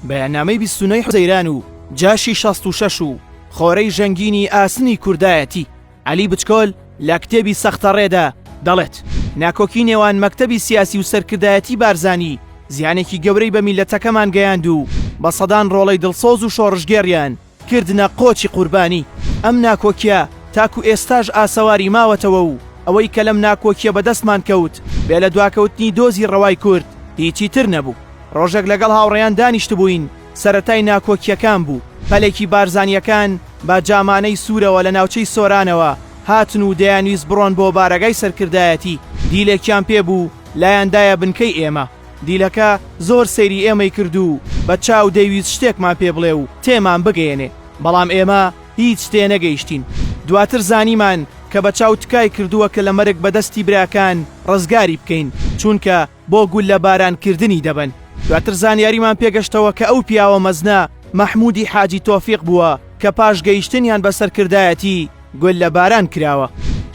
بەیاننامەی بیست و نۆی حوزەیران و جاشی شەست و شەش و خۆرەی ژەنگینی ئاسنی کوردایەتی عەلی بچکۆل لە کتێبی سەختەڕێدا دەڵێت، ناکۆکی نێوان مەکتەبی سیاسی و سەرکردایەتی بارزانی زیانێکی گەورەی بە میللەتەکەمان گەیاند و بە سەدان ڕۆڵەی دڵسۆز و شۆڕشگێڕیان کردنە قۆچی قوربانی، ئەم ناکۆکیە تاکو ئێستاش ئاسەواری ماوەتەوە و ئەوەی کە لەم ناکۆکیە بەدەستمان کەوت بێ لە دواکەوتنی دۆزی ڕەوای کورد هیچی تر نەبوو. ڕۆژێک لەگەڵ هاوڕێیان دانیشتبووین سەرەتای ناکۆکیەکان بوو پەلێکی بارزانیەکان بە جامانەی سورەوە لە ناوچەی سۆرانەوە هاتن و دەیانویست بڕۆن بۆ بارەگای سەرکردایەتی دیلێکیان پێ بوو لایان دایە بنکەی ئێمە دیلەکە زۆر سەیری ئێمەی کرد و بە چاو دەیویست شتێکمان پێ بڵێ و تێمان بگەیەنێ، بەڵام ئێمە هیچ تێ نەگەیشتین. دواتر زانیمان کە بە چاو تکای کردووە کە لە مەرگ بە دەستی براکان ڕزگاری بکەین، چونکە بۆ گوللە باران کردنی دەبەن. دواتر زانیاریمان پێ گەشتەوە کە ئەو پیاوە مەزنە مەحموودی حاجی تۆفیق بووە کە پاش گەیشتنیان بە سەرکردایەتی، گوللە باران کراوە.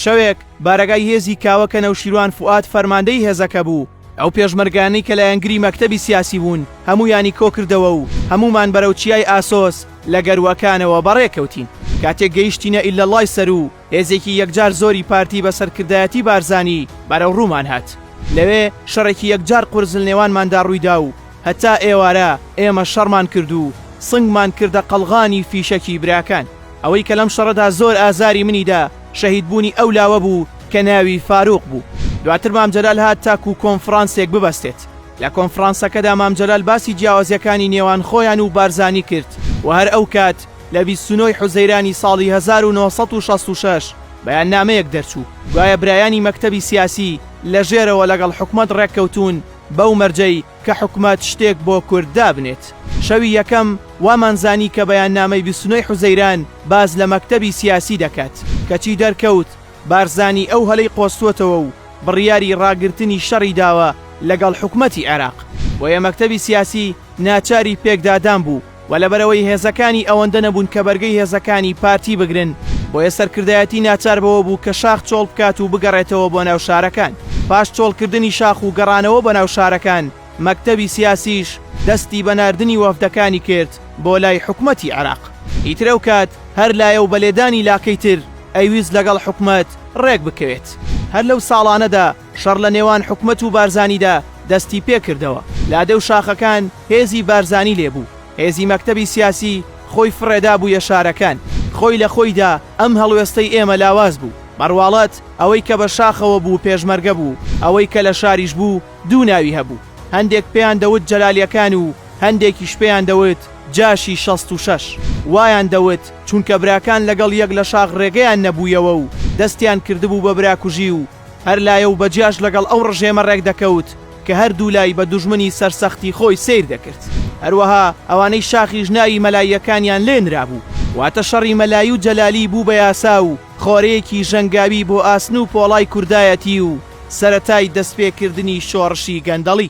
شەوێک بارەگای هێزی کاوە کە نەوشیروان فوئاد فەرماندەی هێزەکە بوو، ئەو پێشمەرگانەی کە لایەنگری مەکتەبی سیاسی بوون هەموویانی کۆکردەوە و هەموومان بەرەو چیای ئاسۆس لە گەرووەکانەوە بەڕێ کەوتین. کاتێک گەیشتینە ئیللەڵڵای سەروو، هێزێکی یەکجار زۆری پارتی بە سەرکردایەتی بارزانی بەرەو ڕوومان هات. لەوێ شەڕێکی یەکجار قورس لەنێوانماندا ڕووی دا و هەتا ئێوارە ئێمە شەڕمان کرد و سنگمان کردە قەڵغانی فیشەکی براکان. ئەوەی کە لەم شەڕەدا زۆر ئازاری منی دا شەهیدبوونی ئەو لاوە بوو کە ناوی فاروق بوو. دواتر مام جەلال هات تاکوو کۆنفڕانسێک ببەستێت. لە کۆنفڕانسەکەدا مام جەلال باسی جیاوازییەکانی نێوان خۆیان و بارزانی کرد و هەر ئەو کات لە بیست و نۆ ی حوزەیرانی ساڵی هەزار و نۆ سەد و شەست و شەش بەیاننامەیەک دەرچوو گوایە برایانی مەکتەبی سیاسی لە ژێرەوە لەگەڵ حکومەت ڕێککەوتوون بەو مەرجەی کە حکومەت شتێک بۆ کورد دابنێت. شەوی یەکەم وامان زانی کە بەیاننامەی بیست و نۆ ی حوزەیران باس لە مەکتەبی سیاسی دەکات، کەچی دەرکەوت بارزانی ئەو هەلەی قۆستووەتەوە و بڕیاری راگرتنی شەڕی داوە لەگەڵ حکومەتی عێراق، بۆیە مەکتەبی سیاسی ناچاری پێکدادان بوو. و لەبەرئەوەی هێزەکانی ئەوەندە نەبوون کە بەرگەی هێزەکانی پارتی بگرن، بۆیە سەرکردایەتی ناچار بەوە بوو کە شاخ چۆڵ بکات و بگەڕێتەوە بۆ ناو شارەکان. پاش چۆڵکردنی شاخ و گەڕانەوە بۆ ناو شارەکان، مەکتەبی سیاسیش دەستی بە ناردنی وەفدەکانی کرد بۆ لای حکومەتی عێراق. ئیتر ئەو کات هەر لایە و بە لێدانی لاکەی تر ئەیویست لەگەڵ حکومەت ڕێک بکەوێت. هەر لەو ساڵانەدا، شەڕ لە نێوان حکومەت و بارزانیدا دەستی پێ کردەوە. لادێ و شاخەکان هێزی بارزانی لێ بوو. هێزی مەکتەبی سیاسی خۆی فڕێدابوویە شارەکان. خۆی لە خۆیدا ئەم هەڵوێستەی ئێمە لاواز بوو. بە ڕواڵەت ئەوەی کە بە شاخەوە بوو پێشمەرگە بوو، ئەوەی کە لە شاریش بوو دوو ناوی هەبوو، هەندێک پێیان دەوت جەلالییەکان و هەندێکیش پێیان دەوت جاشی شەست و شەش. وایان دەوت چونکە براکان لەگەڵ یەک لە شاخ ڕێگەیان نەبوویەوە و دەستیان کردبوو بە براکوژی و هەر لایە و بە جیاش لەگەڵ ئەو ڕژێمە ڕێک دەکەوت کە هەر دوو لای بە دوژمنی سەرسەختی خۆی سەیر دەکرد. هەروەها ئەوانەی شاخیش ناوی مەلاییەکانیان لێ نرابوو. واتە شەڕی مەلایی و جەلالی بوو بە یاسا و خۆرەیەکی ژەنگاوی بۆ ئاسن و پۆڵای کوردایەتی و سەرەتای دەستپێکردنی شۆڕشی گەندەڵی.